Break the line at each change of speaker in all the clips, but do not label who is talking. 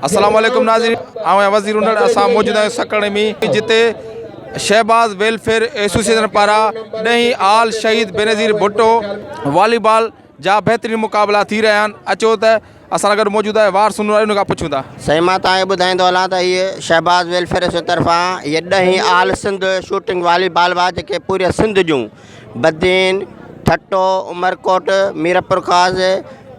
السلام عليڪم ناظرين آئون آهيان وزير هنڙ اسان موجود آهيون سڪڙي ۾ جتي شهباز ويلفيئر ايسوسيئيشن پاران ڏهين آل شهيد بينظير ڀٽو والي بال جا بهترين مقابلا ٿي رهيا آهن اچو ته اسان سان گڏ موجود آهي وار سنور ان کان پڇون ٿا. سائين مان توهان کي ٻڌائيندو
هلان ته هيء شهباز ويلفيئر ايسوسين طرفان هيء ڏهين all Sindh shooting volleyball وا جيڪي پوريء سنڌ جون بدين، ٺٽو، عمرڪوٽ، ميرپورخاص،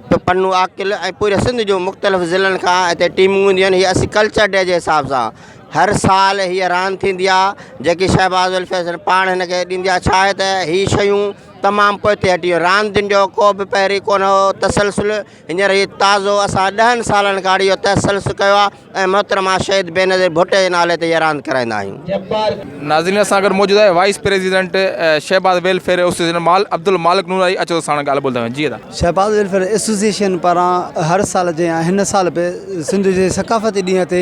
پ پ نوعاقل ۽ پوريء سنڌ جون مختلف ضلعن کان هتي ٽيمون اينديون آهن هيء اسي ڪلچر ڊي جي حساب سان هر سال هيء راند ٿيندي آهي جيڪي شهباز ويلفيئر ايسوسين پاڻ هن کي ڏيندي آهي ڇا آهي ته هي شيون تمام پوئتي هٽي ويو. راندين جو ڪو به پهرين ڪونه هو تسلسل هينئر هي تازو اسان ڏهن سالن کان اهڙي جو تسلسل ڪيو آهي ۽ محترمه شهيد بينظير ڀٽي جي نالي تي هيء راند ڪرائيندا آهيون. ناظرين اسان گڏ موجود
آهي vice president Shahbaz welfare association مال عبدالمالڪ نور آهي اچو ته ساڻن ڳالهه ٻولهه ٿا ڪريون جي ادا. شهباز ويلفيئر
ايسوسيئيشن پاران هر سال جيان هن سال به سنڌ جي ثقافتي ڏينهن تي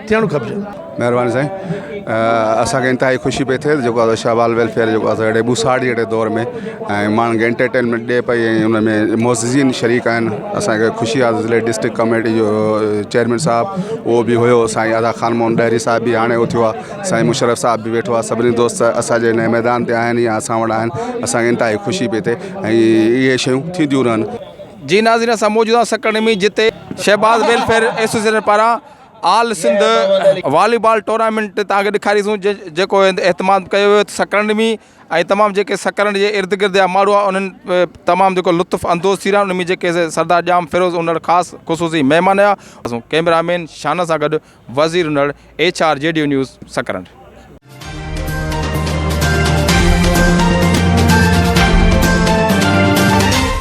ٿيڻ کپجي. مهرباني سائين
اسان کي انتهائي خوشي پئي ٿئي جيڪو آ شاھ بال ويلفيئر جيڪو آ اهڙي ٻوساڙ جهڙي دور ۾ ۽ ماڻهن کي انٽرٽينمينٽ ڏي پئي ۽ ان ۾ معززين شريڪ آهن اسانکي خوشي آ ضلعي ڊسٽرڪٽ ڪاميٽي جو چيئرمين صاحب اهو به هيو سائين ادا خان مون ڏهري صاحب بي هاڻي اهو ٿيو آ سائين مشرف صاحب به ويٺو آ سڀني دوست اسان جي هن ميدان تي آهن يا اسان وٽ آهن اسانکي انتهائي خوشي پئي ٿئي ۽ اهي شيون ٿينديون رهن. جي ناظرين اسان
موجود آهيون سڪرنڊ ۾ جتي شهباز ويلفيئر ايسوسيئيشن پاران آل سنڌ والي بال ٽورنامينٽ تان کي ڏيکاري سون جيڪو اهتمام ڪيو ويو سڪرنڊ ۾ ۽ تمام جيڪي سڪرنڊ جي ارد گرد جا ماڻهو آ انهن تمام جيڪو لطف اندوز ٿي رهيا ان ۾ جيڪي سردار ڄام فيروز انڙ خاص خصوصي مهمان آيا ڪيمرا مين شانه سان گڏ Wazir Unar H R G D news Sakrand.